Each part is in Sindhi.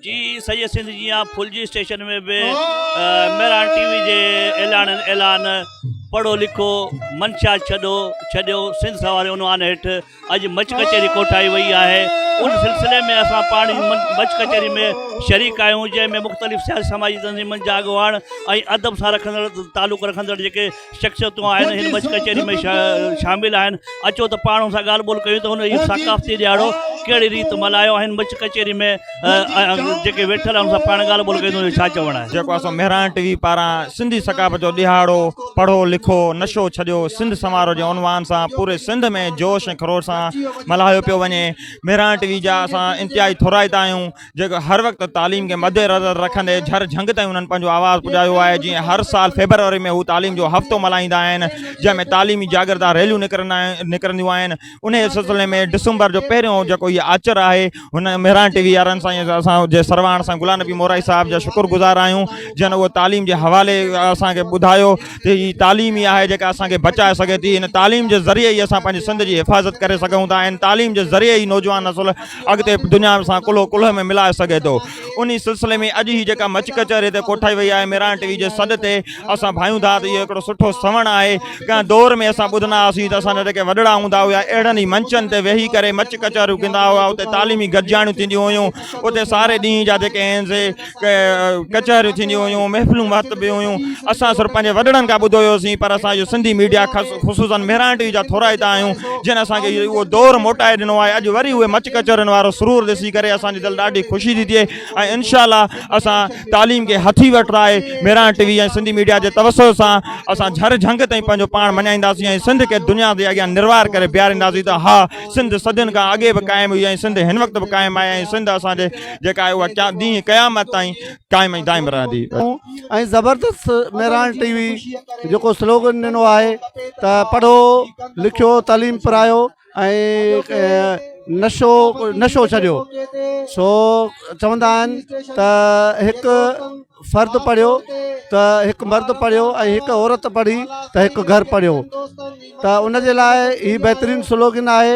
جي سڄي سنڌ جيان ڦلجي اسٽيشن ۾ به مهراڻ ٽي وي جي اعلاڻن اعلان پڙهو لکو منشا ڇڏو ڇڏيو سنڌ سواري عنوان هيٺ اڄ مچ ڪچهري ڪوٺائي وئي آهي ان سلسلي ۾ اسان پاڻ مچ ڪچهري ۾ شريڪ آهيون جنهن ۾ مختلف سياسي سماجي تنظيمن جا اڳواڻ ۽ ادب سان رکندڙ تعلق رکندڙ جيڪي شخصيتون آهن هن مچ ڪچهري ۾ شامل آهن اچو ته پاڻ هن سان ڳالهه ٻولهه ڪيون ته هن اهو ثقافتي ڏيهاڙو ڪهڙي ريت ملهايو هن مچ ڪچهري ۾ جيڪي ويٺل آهن هن سان پاڻ ڳالهه ٻولهه ڪيون ڇا چوڻ آهي جيڪو اسان مهراڻ ٽي وي پاران سنڌي ثقافت جو ڏيهاڙو پڙهو لکو نشو ڇڏيو سنڌ سنوارو جي عنوان سان پوري سنڌ ۾ جوش ۽ خروش سان ملهايو پيو وڃي مهراڻ ٽي وي جا اسان انتهائي ٿورائتا آهيون جيڪو هر وقت تعليم کي مدنظر رکندي جھر جھنگ تائين انهن پنهنجو آواز پڄايو آهي جيئن هر سال فيبروري ۾ هو تعليم جو هفتو ملهائيندا آهن جنهن ۾ تعليمي جاگرتا ريليون نڪرندا نڪرنديون آهن ان سلسلي ۾ ڊسمبر جو پهريون جيڪو هي آچر آهي هن مهراڻ ٽي وي وارن سان اسان جي سرواڻ سان غلام نبي مورائي صاحب جا شڪر گذار آهيون جن اهو تعليم جي حوالي اسانکي ٻڌايو ته هي تعليم ئي آهي جيڪا اسانکي بچائي سگهي ٿي هن تعليم جي ذريعي ئي اسان پنهنجي سنڌ جي حفاظت ڪري سگهون ٿا ۽ تعليم جي ذريعي ئي نوجوان نسل اڳتي دنيا سان ڪلهو ڪلهي ۾ ملائي سگهي ٿو انهي سلسلي ۾ اڄ هي جيڪا مچ ڪچهري هتي ڪوٺائي وئي آهي ميران ٽي وي جي سڏ تي اسان ڀانيون ٿا ته اهو هڪڙو سٺو سوڻ آهي ڪنهن دور ۾ اسان ٻڌندا هئاسين ته اسان جا جيڪي وڏڙا هوندا هيا اهڙن ئي منچن تي ويهي ڪري مچ ڪچهريون ڪندا هئا اتي تعليمي گڏجاڻيون ٿينديون هيون اتي ساري ڏينهن جا جيڪي آهن سي ڪچهريون ٿينديون هيون محفلون مهت به هيون اسان سر پنهنجي وڏڙن کان ٻڌو هيوسين پر اسان جو سنڌي ميڊيا خصوصا مهراڻ ٽي وي جا ٿورائتا آهيون جن اسان کي اهو دور موٽائي ڏنو آهي اڄ وري اهي مچ ڪچهرين وارو سرور ڏسي ڪري اسان جي دل ڏاڍي خوشي ٿي ٿئي ۽ انشاء الله اسان تعليم کي هٿي وٺ آهي Mehran T V ۽ Sindhi media جي توسع سان اسان جھر جھنگ تائين پنهنجو پاڻ مڃائينداسين ۽ سنڌ کي دنيا جي اڳيان نروار ڪري بيھارينداسين ته ها سنڌ صدين کان اڳي به قائم هئي ۽ سنڌ هن وقت به قائم آهي ۽ سنڌ اسان جي جيڪا آهي اها ڪيا ڏينهن قيامت تائين قائم ۽ دائم رهندي. ۽ زبردست مهراڻ ٽي وي جيڪو سلوگن ڏنو آهي ته پڙهو لکيو تعليم پرايو ۽ نشو نشو ڇڏيو سو چوندا آهن ته هڪ فرد پڙهيو ته هڪ مرد پڙهيو ۽ هڪ عورت پڙهي ته هڪ گهر پڙهيو ته ان جي لاء هي بهترين سلوگن آهي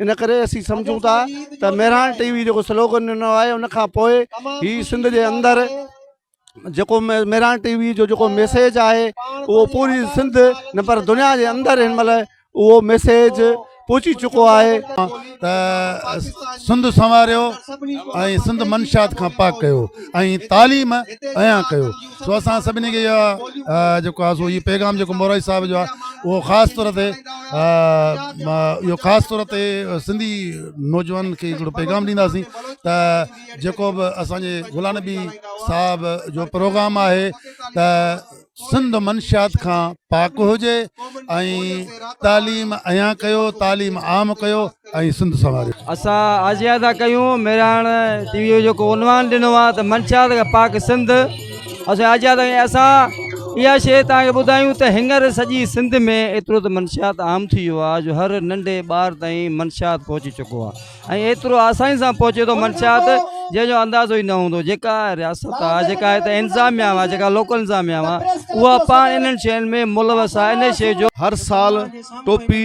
ان ڪري اسين سمجهون ٿا ته مهراڻ ٽي وي جيڪو سلوگن ڏنو آهي ان کان پوء هي سنڌ جي اندر جيڪو مهراڻ ٽي وي جو جيڪو ميسيج آهي اهو پوري سنڌ نه پر دنيا جي اندر هن مهل اهو ميسيج پهچي چڪو آهي ته سنڌ سنواريو ۽ سنڌ منشات کان پاڪ ڪيو ۽ تعليم عيان ڪيو سو اسان سڀني کي اها جيڪو آهي سو هي پيغام جيڪو مورائي صاحب جو آهي اهو خاص طور تي اهو خاص طور تي سنڌي نوجوانن کي هڪڙو پيغام ڏينداسين ته جيڪو به اسانجي غلام نبي صاحب جو پروگرام آهي ته سنڌ منشيات کان پاڪ هجي ۽ تعليم ايان ڪيو تعليم عام ڪيو ۽ سنڌ سنواريو. اسان آجيان ٿا ڪيون ميراڻ ٽي وي جيڪو عنوان ڏنو آ ته منشيات کان پاڪ سنڌ اسان آجيان ٿا ڪيون اسان اها شيء توهان کي ٻڌايون ته هينئر سڄي سنڌ ۾ ايترو ته منشيات عام ٿي ويو آ جو هر ننڍي ٻار تائين منشيات پهچي چڪو آ ۽ ايترو آساني سان پهچي ٿو منشيات جنهن جو اندازو ئي نه هوندو جيڪا رياست آ جيڪا هتي انتظاميا آ جيڪا لوڪل انتظاميا آ اها پاڻ انهن شين ۾ ملوث آ انهي شيء جو هر سال ٽوپي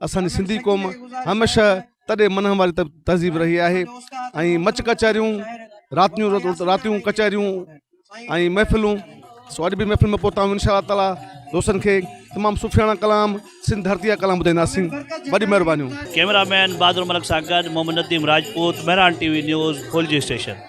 اسان جي سنڌي قوم هميشه تڏي منهن واري تهذيب رهي آهي ۽ مچ ڪچهريون راتيون راتيون ڪچهريون ۽ محفلون سو اڄ به محفل ۾ پهتا آهيون انشاء الله تعالی دوستن کي تمام سفياڻا ڪلام سنڌ ڌرتي جا ڪلام ٻڌائينداسين وڏي مهربانيون ڪيمرا مين بادر ملڪ سان گڏ Muhammad Nadeem Rajput Mehran T V news Phulji station